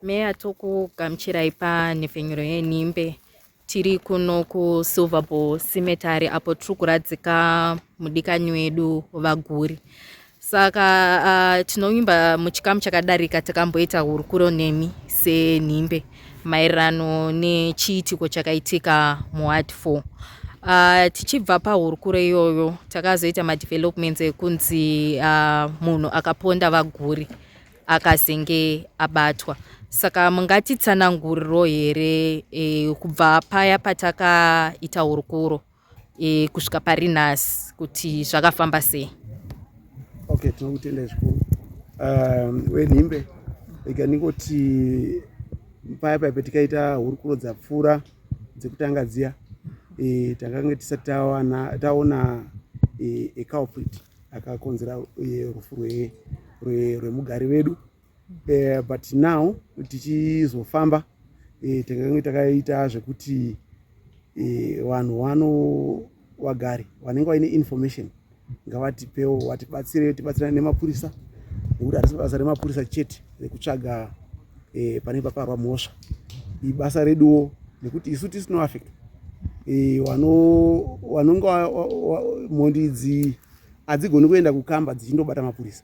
Meya tokugamuchirai panhepfenyuro yenhimbe tiri kuno kusilverbull simetary apo tiri kuradzika mudikanyi wedu vaguri saka uh, tinovimba muchikamu chakadarika takamboita hurukuro nemi senhimbe maererano nechiitiko chakaitika muward 4 Uh, tichibva pahurukuro iyoyo takazoita madevelopments ekunzi uh, munhu akaponda vaguri akazenge abatwa saka mungatitsananguriro here e, kubva paya patakaita hurukuro e, kusvika pari nhasi kuti zvakafamba sei okay tinokutenda zvikuru um, wenhimbe ika ndingoti paya paya patikaita hurukuro dzapfuura dzekutanga dziya e, takange tisati taona e, eculprit akakonzera eh, rufu rwemugari vedu eh, but now tichizofamba eh, tange takaita zvekuti vanhu wano vagari vanenge vaine information ngavatipewo vatibatsire tibatsirane nemapurisa nekuti harisi basa remapurisa chete rekutsvaga e, pane paparwa mhosva ibasa reduwo nekuti isu tisino affect e, wanonge mhondi idzi hadzigoni kuenda kukamba dzichindobata mapurisa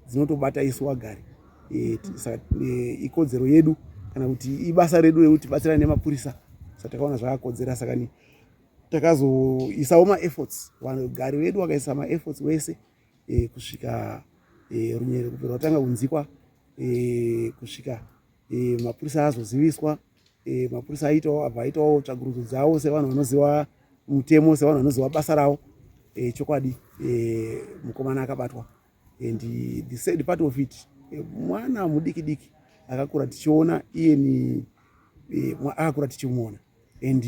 dzinotobata isu wagari e, e, ikodzero yedu kana kuti ibasa redu rekuti batsirana nemapurisa sa takaona zvakakodzera sakani takazoisawo maefforts vanhu gari vedu vakaisa maefforts wese wa e, kusvika e, runyerero kubva rwatanga kunzikwa e, kusvika e, mapurisa azoziviswa e, mapurisa aitawo abva aitawo tsvagurudzo dzavo sevanhu vanoziva mutemo sevanhu vanoziva basa ravo e, chokwadi e, mukomana akabatwa and the sad part of it e, mwana mudiki diki akakura tichiona iyeni e, akakura tichimuona and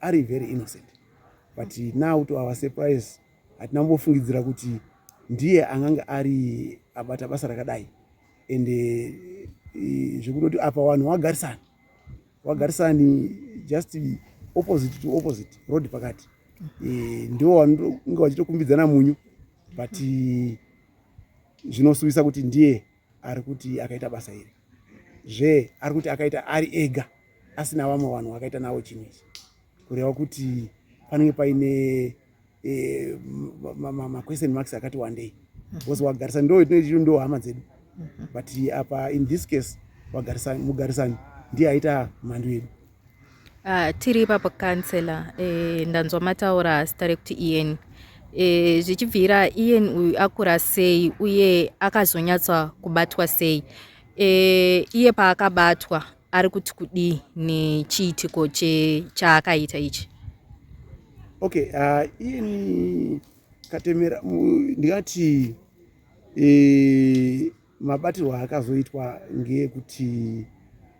ari very innocent but now to our surprise hatina kumbofungidzira kuti ndiye angange ari abata basa rakadai and eh, zvekutoti apa vanhu wagarisani wagarisani just opposite to opposite road pakati eh, ndivo vanonge vachitokumbidzana munyu but eh, zvinosuwisa kuti ndiye ari kuti akaita basa iri zve ari kuti akaita ari ega asina vamwe vanhu vakaita navo chinhu ichi kureva kuti panenge paine eh, maquestion marks akati wandei because wagarisa ndo itoichiu ndo hama dzedu but apa in this case mugarisani ndiye aita mhandu yedu ah, tiri ipapo kansela eh, ndanzwa mataura zita rekuti ieni eh, zvichibvira ieni uyu akura sei uye akazonyatsa kubatwa sei iye paakabatwa ari kuti kudii nechiitiko chaakaita ichi okay uh, ini katemera ndingati e, mabatirwo akazoitwa ngeekuti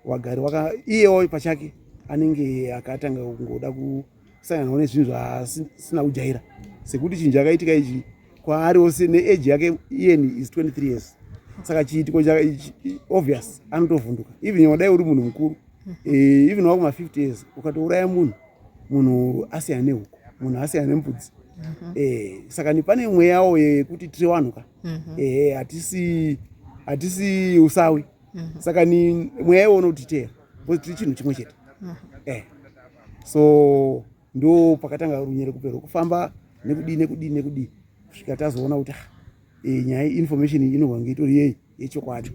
wagari waka iyewo pachake anenge akatanga kungoda ku kusanganawo nezvinhu zvaasina kujaira sekuti chinhu chakaitika ichi kwaari ose neage yake iyeni is 23 years saka chiitiko obvious anotovhunduka even wadai uri munhu mukuru eh, even wakuma 50 years ukatouraya munhu munhu asiyana nehuku munhu asiyana nembudzi mhm. eh, saka ni pane mweyawo yekuti tiri vanhu ka mhm. eh, hatisi usawi mhm. saka ni mweya iwo unotiteya because tiri chinhu chimwe chete mhm. eh so ndo pakatanga runyere kupera kufamba nekudii nekudii nekudii kusvika tazoona kuti ah, eh, nyaya information inovange itori yei yechokwadi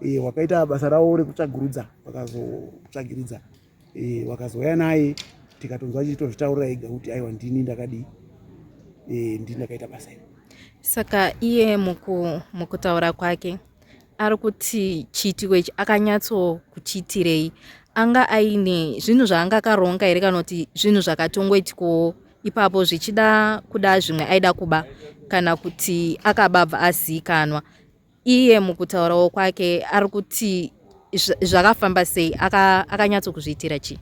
eh, wakaita basa ravo rekutsvagurudza vakazotsvagiridza e, wakazouya naye tikatonzwa achitozvitaurira ega kuti aiwa ndini ndakadii e, ndini ndakaita basa iri saka iye muku, mukutaura kwake ari kuti chiitiko ichi akanyatso kuchiitirei anga aine zvinhu zvaanga akaronga here kana kuti zvinhu zvakatongoitikowo ipapo zvichida kuda zvimwe aida kuba kana kuti akababva aziikanwa iye mukutaurawo kwake ari kuti zvakafamba sei akanyatso kuzviitira chii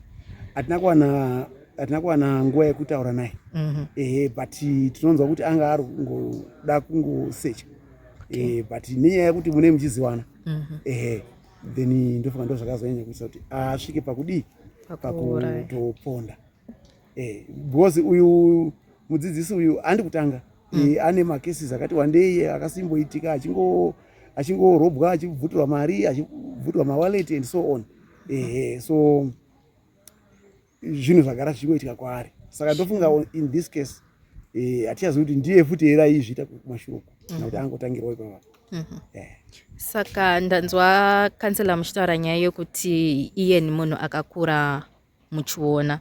hatina kuwana hatina kuwana nguva yekutaura naye mhm. ehe but tinonzwa kuti anga ari kungoda kungosecha ehe but nenyaya yekuti mune muchiziwana mhm. ehe then ndofunga ndo zvakazonyanya kuisa kuti asvike pakudii pakutoponda eh, because uyu mudzidzisi uyu andi kutanga mm. eh, ane makesis akati wandei akasimboitika achingo achingorobwa achibvutirwa mari achibvutirwa mawallet and so on ehe so zvinhu zvagara zvichingoitika kwaari saka ndofunga in this case eh, hatichazivi kuti ndiye futi here aizviita kumashuruku kana mhm. kuti angotangirwa ipava mhm. eh. saka ndanzwa kansela muchitaura nyaya yokuti iye ni munhu akakura muchiona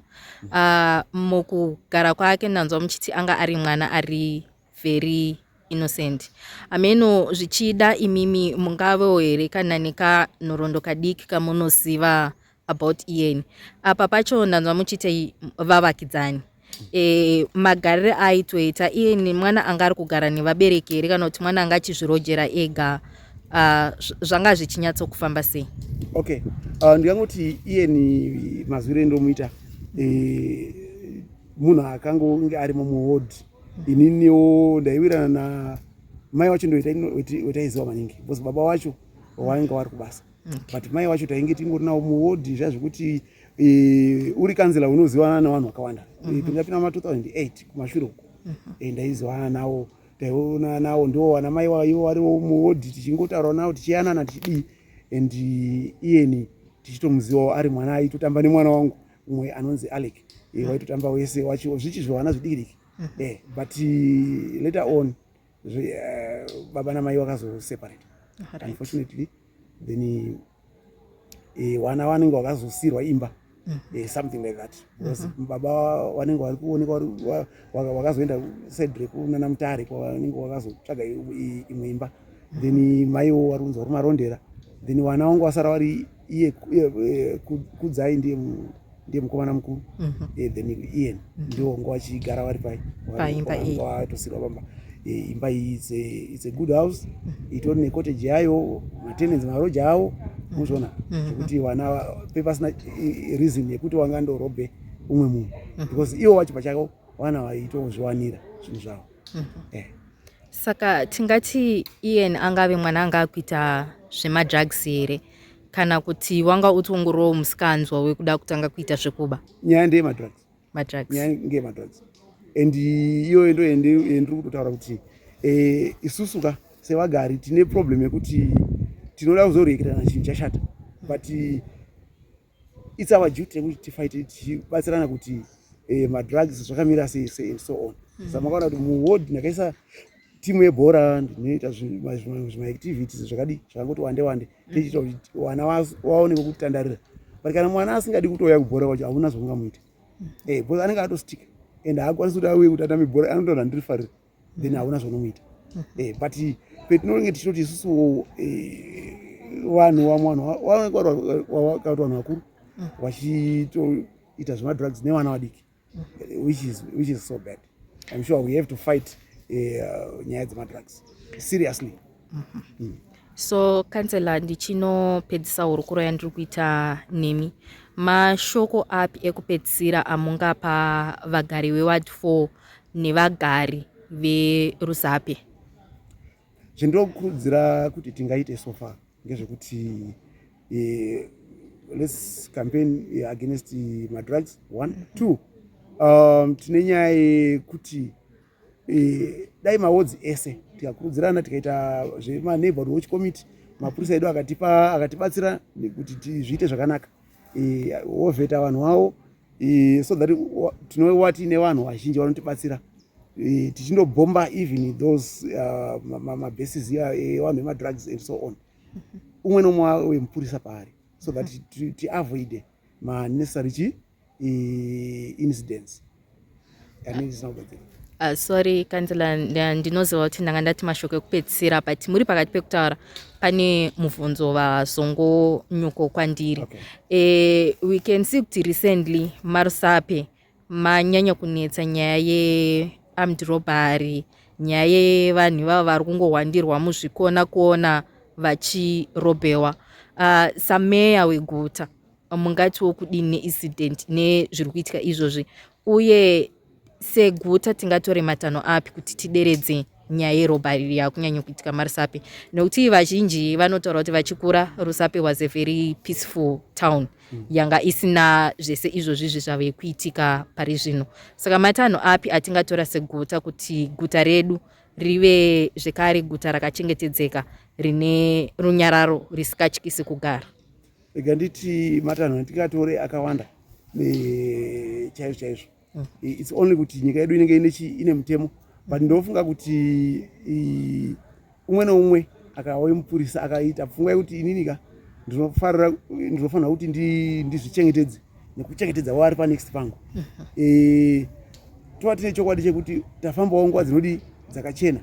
uh, mukugara kwake ndanzwa muchiti anga ari mwana ari very innocent ameno zvichida imimi mungavewo here kana nekanhorondo kadiki kamunoziva about ian apa pacho ndanzwa muchiti vavakidzani e, magarire aaitoita iye nemwana anga ari kugara nevabereki here kana kuti mwana anga achizvirojera ega uh, zvanga zvichinyatsokufamba sei okay uh, ndingangoti iye ni mazwiro endomuita e, eh, munhu akangonge ari mumuhodhi ininiwo ndaiwirana na mai wacho ndoitaiziva maningi bcause baba wacho wainga wari kubasa okay. but mai wacho tainge tingori nawo muwodhi zvazvekuti e, uri kanzela unozivana navanhu vakawanda mm -hmm. e, tingapinda ma 2008 kumashure uko mm -hmm. e, ndaizivana nawo taiona nawo ndiwo wana mai waivo variwo muwodhi tichingotaura nawo tichiyanana tichidii and iyeni tichitomuzivawo ari mwana aitotamba nemwana wangu umwe anonzi alec e, mm -hmm. waitotamba wese wachiwo zvichizvivana zvidikidiki mm -hmm. e, but later on zve uh, baba namai vakazoseparate right. unfortunately then uh, eh, wana wanenge wakazosirwa imba mm. uh, something like that because mm -hmm. baba wanenge wari kuonekwa wakazoenda side rekunana mutare kwawanenge wakazotsvaga imwe imba mm -hmm. then maiwo wari kunzi wari marondera then wana wangu wasara wari iye kudzai ndiye ndiye mukomana mukuru mhm. eh, then ian mhm. ndiwo ngo vachigara vari pai paimba iyi vatosirwa pamba eh, imba iyi its a good house mhm. itori necottage yayo matenancy maroja awo muzviona zvekuti vana pepasina eh, reason yekuti wanga ndorobhe umwe munhu because iwo vacho pachako vana vaitozviwanira zvinhu zvavo saka tingati ian angave mwana anga akuita zvemadrugs here kana kuti wanga utongorowo musikanzwa wekuda kutanga kuita zvekuba nyaya ndeye madrugs madrugs nyaya ngeye madrugs and iyoyo ndo yendiri kutotaura kuti eh, isusu ka sevagari tine problem yekuti tinoda kuzorekerana chinhu chashata but its our duty yekuti tifaite tichibatsirana kuti eh, madrugs zvakamira sei sei and so on hmm. sa makaona kuti muward ndakaisa timu yebhora ndinoita zvimaactivities zvakadii zvakangoti wande wande tichiita kuti vana vaone vekutandarira but kana mwana asingadi kutouya kubhora kwacho hauna zvaungamuita mm. eh, bcause anenge atostika and haakwanisi kuti auye kuti atambe bhora anotaura ndiri farira then mm. hauna zvaunomuita mm. eh, but petinonge tichitoti isusu eh, vanhu vamwe vanhu vanenge vakaita vanhu vakuru vachitoita zvemadrugs nevana vadiki which is, which is so bad i'm sure we have to fight eh, uh, nyaya dzemadrugs seriously mm -hmm. mm. so kansela ndichinopedzisa hurukuro yandiri kuita nemi mashoko api ekupedzisira amungapa vagari veward 4 nevagari verusape zvindinokurudzira kuti tingaite sofa ngezvekuti eh, let's campaign eh, against eh, madrugs one two um, tine nyaya yekuti eh, dai maodzi ese tikakurudzirana tikaita zvemaneighborhood watch committee mapurisa edu akatipa akatibatsira nekuti zviite zvakanaka wovheta e, vanhu vavo e, so that tinowa tiine vanhu vazhinji vanotibatsira e, tichindobhomba even those uh, mabases iya evanhu vemadrugs and so on umwe nomwe wemupurisa paari so that tiavoide manecessary chi incidents Uh, sorry kansela ndinoziva kuti ndanga ndati mashoko ekupedzisira but muri pakati pekutaura pane mubvunzo vazongo nyuko kwandiri okay. e, we can see kuti recently marusape manyanya kunetsa nyaya yearmed robbery nyaya yevanhu ivavo vari kungohwandirwa muzvikona kona vachirobhewa uh, sameya weguta mungatiwo kudini neincident nezviri kuitika izvozvi uye seguta tingatore matanho api kuti tideredze nyaya yerobari yakunyanya kuitika marusape nokuti vazhinji vanotaura kuti vachikura rusape was a very peaceful town mm. yanga isina zvese izvozvi izvi zvave kuitika pari zvino saka matanho api atingatora seguta kuti guta redu rive zvekare guta rakachengetedzeka rine runyararo risikatyisi kugara rega nditi matanho atikatore akawanda chaizvo chaizvo mm. its only kuti nyika yedu inenge ine mutemo but ndofunga kuti umwe neumwe akauye mupurisa akaita pfungwa yekuti ininika ndinofanira kuti ndizvichengetedze nekuchengetedza waari panext pangu e, tova tine chokwadi chekuti tafambawo nguva dzinodi dzakachena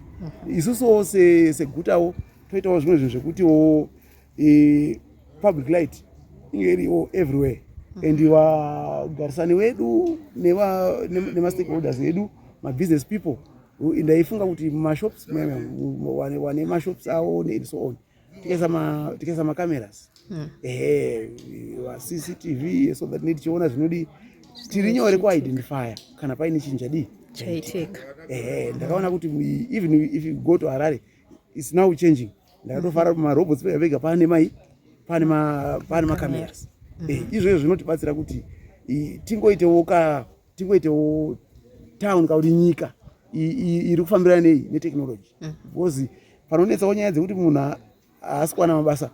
isusuwo segutawo toitawo zvimwe zvinhu zvekutiwo e, public light inge iriwo everywhere mm. and vagarisani wedu nemastakeholders edu mabusiness people ndaifunga kuti mashops wane mashops awo and so on tikaisa macameras hmm. ehe cctv so that tichiona zvinodi tiri nyore kuidentifya kana paine chinhu chadii chaitika ehe ndakaona kuti even if you go to harare its now changing ndakatofara kuti marobots vega vega pane mai pane ma pane macameras mm. eh, izvozvo zvinotibatsira kuti tingoitewo ka tingoitewo town kakuti nyika iri kufambira nei netechnology mm. because panonetsawo nyaya dzekuti munhu haasi kuwana mabasa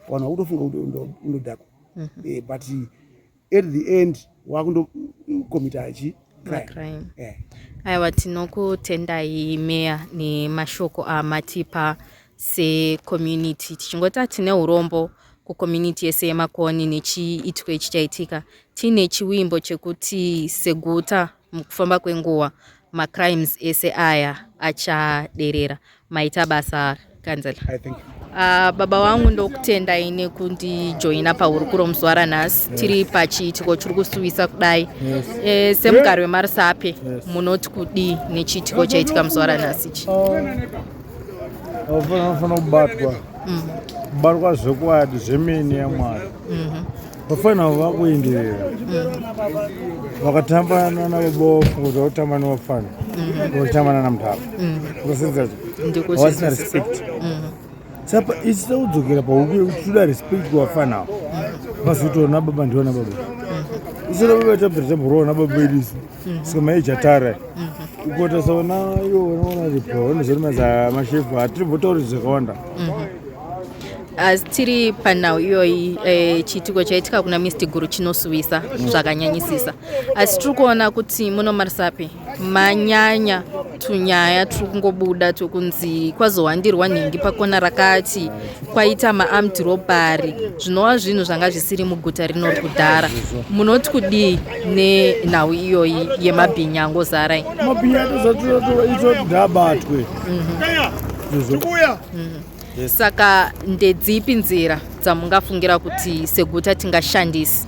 vanhu vakutofunga kuti undodhakwa mm-hmm. eh, but at the end wakundokomita achi crime eh. aiwa tinokutendai meya nemashoko amatipa secommunity tichingoti hatine urombo kucommunity yese yemakoni nechiitiko ichi chaitika tiine chiwimbo chekuti seguta mukufamba kwenguva macrimes ese aya achaderera maita basa kanzela Uh, ah, baba wangu ndokutendai nekundijoina pauri kuro muzuva ranhasi yes. tiri pachiitiko chiri kusuwisa kudai yes. e, semugari wemarisape yes. munoti kudii nechiitiko chaitika muzuva ranhasi ichi vanofanira ah, kubatwa kubatwa mm. zvekwadi zvemene yamwari mm-hmm. vafana avo vakuenderera vakatamba nana vaboko kuti vakutamba nevafana mm-hmm. vakutamba nana mutava ukasenzacho mm-hmm. havasina respect mm-hmm. sapa isisa kudzokera pahuku yekuti toda respect kuvafana avo vazotoona baba ndiona baba isina baba tabvira tamboroona baba vedu isu Mhm. saka maija tara mhm. kuita saona iwo unoona ripo unozorimaza mashefu hatiri votauri zvakawanda mhm. asi tiri panhau iyoyi eh, chiitiko chaitika kuna misti guru chinosuwisa zvakanyanyisisa asi tiri kuona kuti munomarisapi manyanya tunyaya turi kungobuda tokunzi kwazowandirwa nhingi pakona rakati kwaita maarmed robbery zvinova zvinhu zvanga zvisiri muguta rino kudhara munoti kudii nenhau iyoyi yemabhinya angozara mabhinya atozaitoitodhabatwe saka ndedzipi nzira dzamungafungira kuti seguta tingashandisi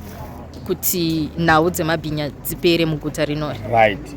kuti nhau dzemabhinya dzipere muguta rinori right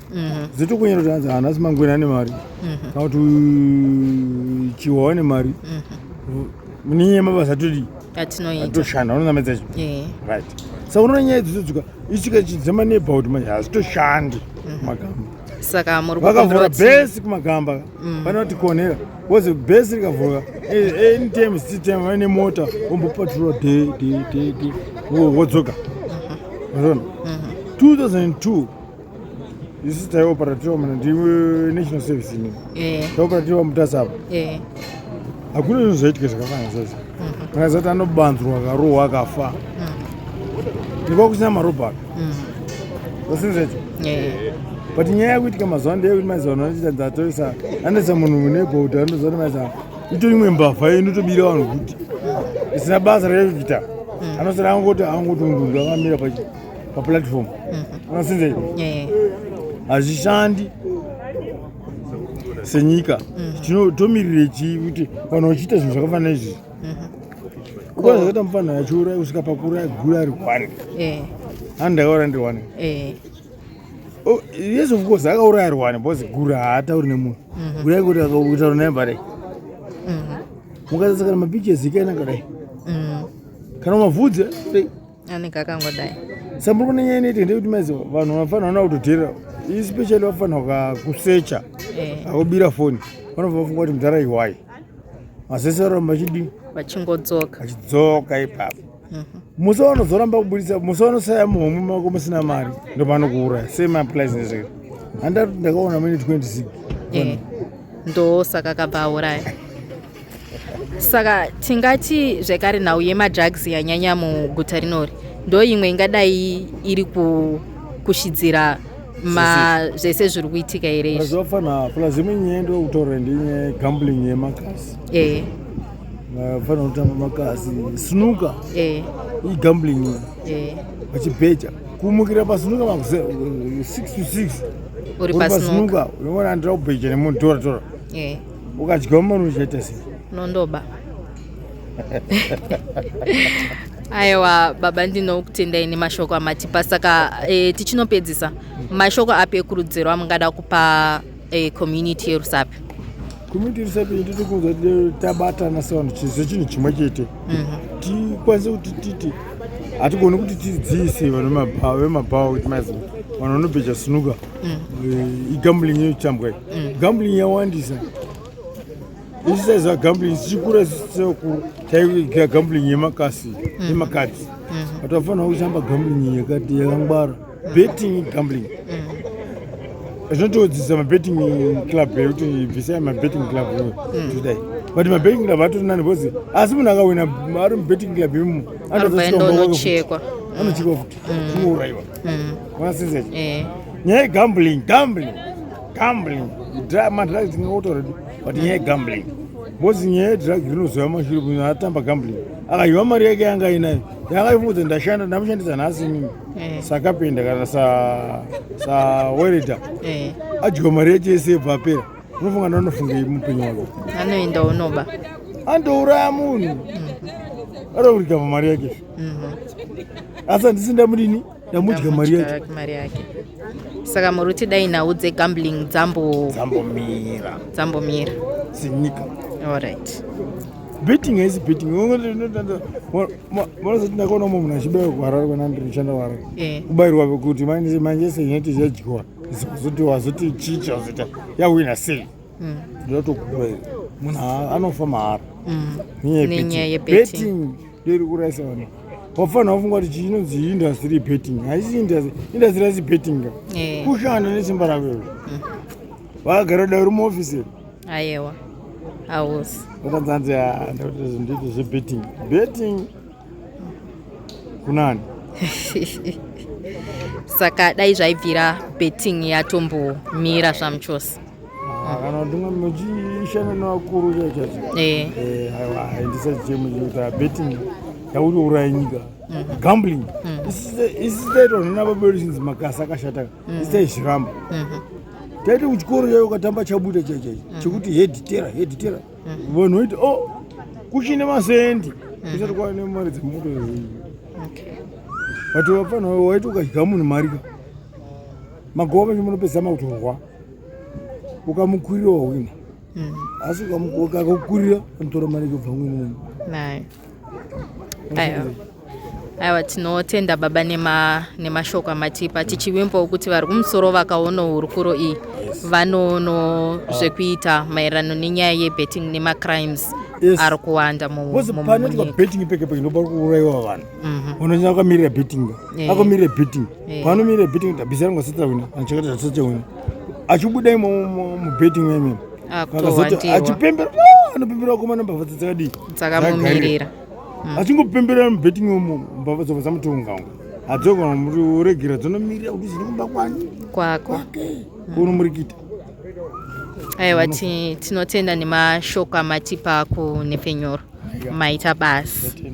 Mhm. zito kunyera tanzi hanasi mangwena ane mari Mhm. kana kuti uyu chiwa wane mari Mhm. munenyaya yemabasa todi Atinoita. atoshanda unonamedza chi Eh. right sa unoona nyaya dzidzodzika isvika chidzema neighborhood manje hazitoshandi Mhm. magamba Saka muri vakavhura kukumbira kuti- bhesi kumagamba Mm. pane kuti konera wozi bhesi rikavhura eh, anytime sitime vaine mota ombopatrura de de de de wo- wodzoka unoona Mhm. 2002 isi taioperatira mna ndinational service ini eh. taoperatira mutasa apo eh. hakuna zvinhu zvaitika zvakafanana zvazi mhm. kana zati anobanzurwa akarohwa akafa mhm. nekwa kusina marobha aka mhm. zasinzecho eh. but nyaya yakuitika mazuva ano ndeyekuti maiza vanhu vanochiita ndatoisa anoisa munhu mune bhouta anozoti maiza ito imwe mbavha inotobira vanhu kuti isina basa rekuita anosara angoti angotundundu akamira pachi paplatform unasinzei mhm. eh. hazvishandi senyika mhm. tomirire chii kuti vanhu vachiita zvinhu zvakafanana izvizvi mhm. kuba zvakaita mufanhu achiuraya kusvika pakura gura ari one eh. handi akaura ndiri one eh. oh, yes of course akauraya ari one because gura haatauri nemunhu kurai kuti akakutaura naye mbarai mukasasa kana mapictures ikaina kadai kana mavhudze anenge akangodai samboko nenyaya inoite ndekuti maizi vanhu vanofanira ona kutodherera especially vafanira kusecha eh. akubira foni vanobva vafunga kuti mudhara iwai masese varamba vachidii vachingodzoka vachidzoka ipapo mhm. musi wanozoramba kubudisa musi wanosaya muhomwe mako musina mari ndopanokuuraya same applies nezvee handati ndakaona mune 26 eh. ndosaka kabva auraya saka tingati zvekare nhau yemadrugs yanyanya muguta rinori ndo imwe ingadai iri kushidzira zvese zviri kuitika here izvizvafana plus imwe nyaya ndo kutaura ndinye gambling yemakasi e vafanira kutamba makasi snuka e igambling e vachibheja kumukira pasnuka makuse 6 to 6 uri pasnuka unoona andira kubheja nemunhu tora tora e ukadyiwa mari unozoita sei nondoba aiwa baba ndinokutendai nemashoko amatipa saka e, tichinopedzisa mashoko api ekurudziro amungada kupa e, community yerusapi community yerusapi ndiri kunzwa tabatana sevanhu chizivo chinhu chimwe chete mhm. tikwanise kuti titi hatigoni kuti tidziise vanhu vemabhawa kuti maiziva vanhu vanobheja sinuka mm. uh, igambling inotambwa mm. gambling yawandisa isisa za gambling sichikura sisokuru taiga gambling yemakasi mm. yemakadzi mm. but wafanira kuchamba gambling yakati yakangwara mm. betting gambling mm zvinotodzisa mabetting club yekuti bvisai mabetting club hmm. todai but mabetting club atori nani bcause asi munhu akawina ari mubetting club imomo anotochekwa anochekwa futi kuurayiwa hmm. unasizecho mm. eh. nyaya yegambling gambling gambling madrugs tingakuta already but nyaya yegambling bozi nyaya yedrugs rinozoya mashure kuti atamba gambling akahiwa mari yake yanga inayo yakaifudza ndashanda ndamushandisa nhasi mimi eh. sakapenda kana sawereda eh. adyiwa mari yacho yese yebva apera unofunga ndanofunga mupenyu wako anoenda unoba andouraya munhu mm. arikuritamba mari yake mhm. asi handisi ndamudini ndamudya mari yake mari yake saka muri kuti dai nhau dzegambling dzambo dzambomira dzambomira zinyika allright betting haisi betting vanozoti ndakaona umwe munhu achibayirwa kuharare kana ndinoshanda kuharare eh. kubayirwa kuti manje manje senyati zhadyiwa zoti wazoti chicha wazoti yawina sei hmm. ndotokubayira munhu anofa mahara hmm. nenyaya yebetting Ndiri kuraisa vanhu. Wafana wafunga kuti chinonzi industry betting. Haisi industry, industry haisi betting. Eh. Kushanda nesimba rako. Mm. Wagara dai uri muofficer. Ayewa. Hausi. Wakanzanzi ah, ndoti nditi zvebetting. Betting kunani? Saka dai zvaibvira betting yatombomira zvamuchose. Ah, kana kuti umwe muchishanda nevakuru chachacho eh. eh, aiwa haindisa chichemo chekuti abetting yakutouraya nyika mhm. gambling mm. isitaitwa nana babelisins makasi akashata mm. isitaizviramba mhm. taiti kuchikoro chayo ukatamba chabuda chaichaicho mhm. chekuti heditera heditera vanhu vaiti o oh, kuchine masendi isati kwava nemari dzemoto but vafanira waiti ukadya munhu marika magoa vacho munopedzama kutorwa ukamukurira wahwina mm. asi ukakukurira anotora mari kubva mwinini aiwa tinotenda baba nemashoko nema amatipa tichivimbawo kuti vari kumusoro vakaona hurukuro iyi vanoono zvekuita maererano nenyaya yebetting nemacrimes yes. ari kuwanda mumunyika betting peke peke ndopa kuuraiwa vanhu mhm. unonyanya akamirira betting akamirira betting eh. panomire betting bhizi rangu asati rawina anachakata asati awina achibuda imo mubetting meme akazoti achipembera ah, anopembera wakomana mbavha dzakadii dzakamumirira hmm. achingopembera mubetting imo mbavha dzobva dzamutonga unga adzogona muri uregera dzonomirira kuti zviri kumba kwani kwako unomurikita okay. aiwa tinotenda nemashoko amatipa kunhepfenyoro maita basi